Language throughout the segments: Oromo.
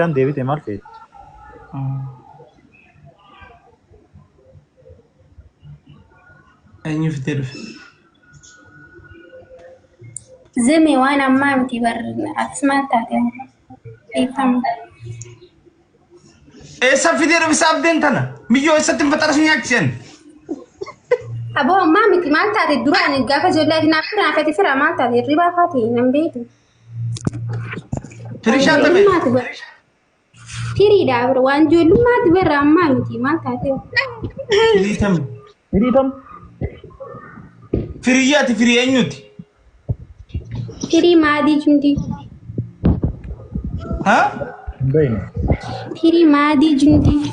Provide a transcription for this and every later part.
Kan deebite maal feeti? Eenyu fitee dhufe? Zimi waan ammaa miti barri atis maal taate dhiifama. Eessa fitee dhufe saabdeen tana? Miyyoo eessatti hin faxarasuu nyaachisen? Aboo ammaa miti maal taate duraan gaafa ijoollee adinaa firaa fete firaa maal taate hirribaa faate hin beeku. Tirishaa tame. Ijoollummaati bara. Firiidha bara. Waan ijoollummaati bara ammaa miti maal taatee. Firii tame. Firii tam. Firiyyaa ati firii eenyuti? Firii maadii jundii. Ha? Hin beekne. Firii maadii jundii.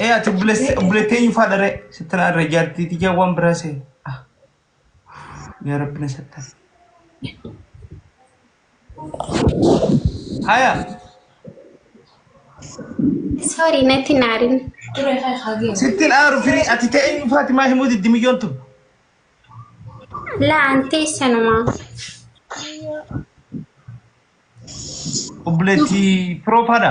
Ee ati obboleessa obboleetti eenyu faadha ree sitti na irra ijaartii tiyyaa waan biraa see. Ah. Yaa rabbi na sattar. Haya. Sorry natti naarin. Sitti na aaru firii ati ta'e eenyu faati maa himuu diddi miyyoon tun. Laa antee sanuma. Obboleetti firoo faadha.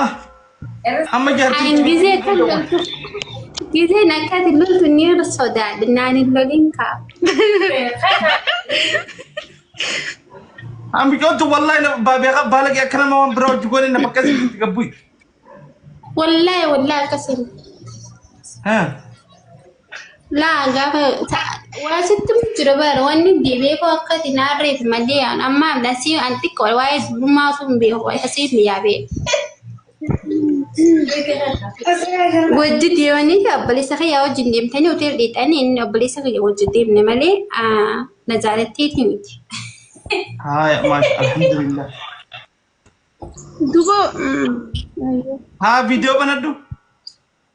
Ah, amma jaartii Ani gizee itti kan dhowwan. loltu gizeen akkati loltu ni sodaadha naan hin lolin kaa. Amma joottu wallahi na baabeeqa baalage akka nama waan biraa hojii goone na bakka isin itti gabbuyi. Wallahi wallahi akkasiin. Ah, Laa gaafa waa sitti jira bara wanni deebi'ee koo akkati naarreef malee aan amma nasii aan xiqqoo waa'ee dubrummaa osoo hin beeku waa'ee asii hin yaabee. Wajji deemanii fi obboleessa kiyyaa wajjin deemtanii hoteela dhiixanii inni obboleessa kiyya wajjin deemne malee na jaalatteeti miti. Haaya maasha alhamdulillah. Dubo. Haa viidiyoo banadhu.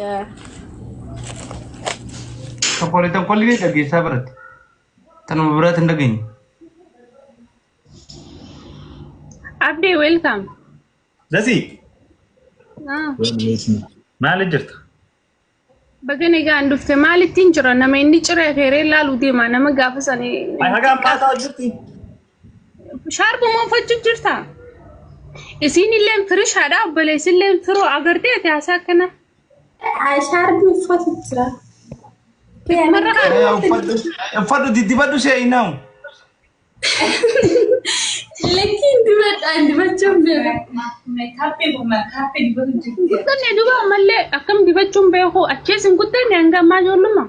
Yaa. Tokkolee tokkolee ni dhageessaa biratte. Tanuma biraatti hin dhageenye. Abdee welcome. Dasi Ah, maali jirta? Baga nagaan dhufte maalittiin jira nama inni ciree feeree laaluu deema nama gaafa sanii. Hagaan paasaa hojjetti. Shaarba moofachuu jirta. Isiinilleen firishaadha obboleessilleen firoo agartee ati haasaa akkana. Shaarbi uffatu jira. Marra haa Eh, uffadhu uffadhu diddibadhu seenaam. Lakkiin dibadhaan dibachuun beeku. guddanne duba ammallee akkam dibachuun beeku achees hin guddanne hanga ammaa ijoollummaa.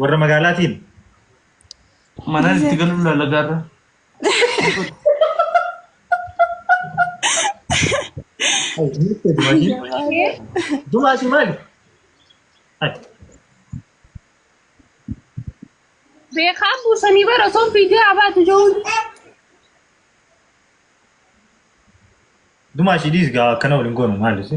Warra magaalaatiin. Manaan itti galuun lallagaarra. Dumaa si maali? Beekaa buusanii bara osoo fiigee abaatu jiruun. Dumaa si dhiis gaa akkana waliin goonu maali si?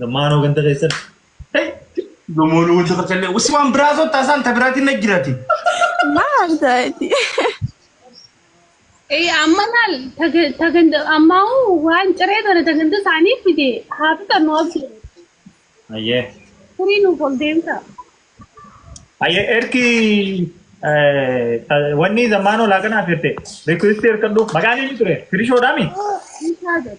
Gammaanoo ganda keessatti. Gamoon wanti tokko illee usi waan biraa sotta isaan ta biraatiin na jirati. Maal ta'eeti? Eh, amma laal taga- taganda ammaa waan ciree tana taganda isaanii fide haa fixannu abdi Ayyee. furii nuuf ol deemta. Ayyee ergi wanni zammaanoo laaqanaaf jette. Rikwesti ergadhu. Maqaan inni ture. Firishoodhaami. Isaa jedhu.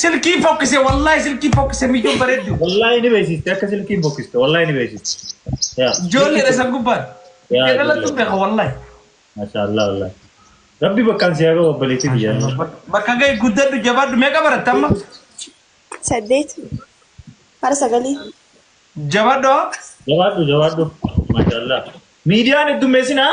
Silkii fokkise wallahi silkii fokkise miyyoo bareeddu. Wallahi ni beeksiste akka silkiin bokkiste wallahi ni beeksiste. Yaa. Ijoollee dhasa gubbaan. Yaa, Ijoollee dhalattu ijoollee. beeka wallahi. Maashaallah wallahi. Rabbi bakkaan si haa gahu obboleettii biyya. Bak- Bakka ga'e guddadhu jabaadhu meeqa baratte amma? saddeet hara sagalii Jabaadhu haa? Jabaadhu jabaadhu. Maashaallah. Miidiyaan heddummeessinaa.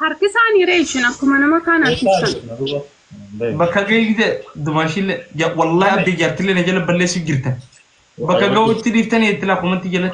Harkisaanii ree ishin akkuma nama kaan harkisan. Bakka geegde dumaashillee wallahi abdii jaartillee na jala balleessu jirta. Bakka ga'uutti dhiiftanii itti laa komantii jala.